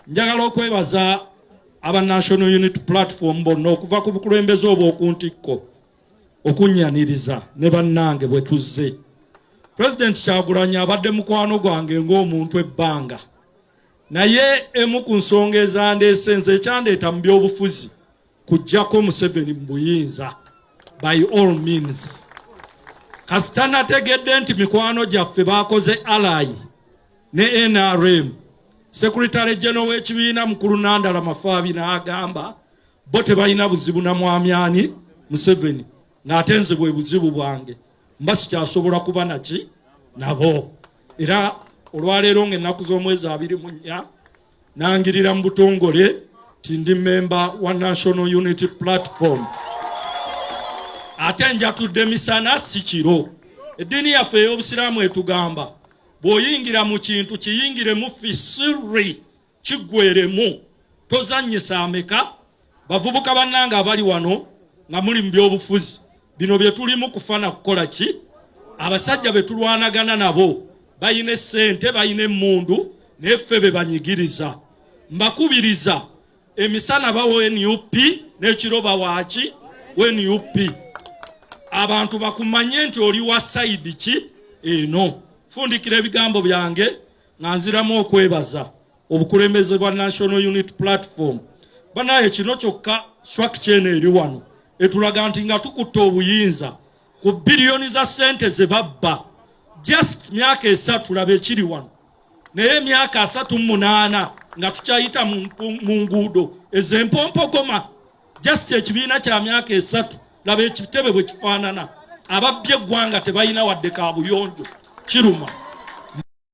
njagala okwebaza aba national unit platform bonna okuva ku bukulembeze obw'oku ntikko okunyaniriza ne bannange bwe tuzze pulezidenti kyagulanyi abadde mukwano gwange ng'omuntu ebbanga naye emu ku nsonga ezandeese nze ekyandeeta mu byobufuzi kujjako museveni mu buyinza by all means kasita nategedde nti mikwano gyaffe bakoze alayi ne nrm sekuritale geno w'ekibiina mukulu nandala mafaabi n'agamba bo tebalina buzibu na mwamyani museveni ng'ate nze bwe buzibu bwange mba sikyasobola kuba naki nabo era olwaleero ng'ennaku z'omwezi abiri mu nnya Nangirira mu butongole nti ndi mmemba wa National Unity Platform ate njatudde misana si kiro. Eddiini yaffe ey'Obusiraamu etugamba bw'oyingira mu kintu kiyingiremu fi sirri kiggweremu tozannyisa ameka Bavubuka bannange abali wano nga muli mu byobufuzi, bino bye tulimu kufana kukola ki? Abasajja be tulwanagana nabo balina essente, balina emmundu, naye ffe be banyigiriza. Mbakubiriza emisana bawo nup n'ekiro bawaaki we nup. Abantu bakumanye nti oli wa sayidi ki eno. Fundikira ebigambo byange nga nziramu okwebaza. obukulembeze bwa National Unit Platform banaye kino kyokka swak kyeno eri wano etulaga nti nga tukutte obuyinza ku biliyoni za sente ze babba just myaka esatu laba ekiri wano naye emyaka asatu munaana nga tukyayita mu nguudo ezempompogoma just ekibiina kya myaka esatu laba ekitebe bwe kifaanana ababbye eggwanga tebalina wadde kabuyonjo kiruma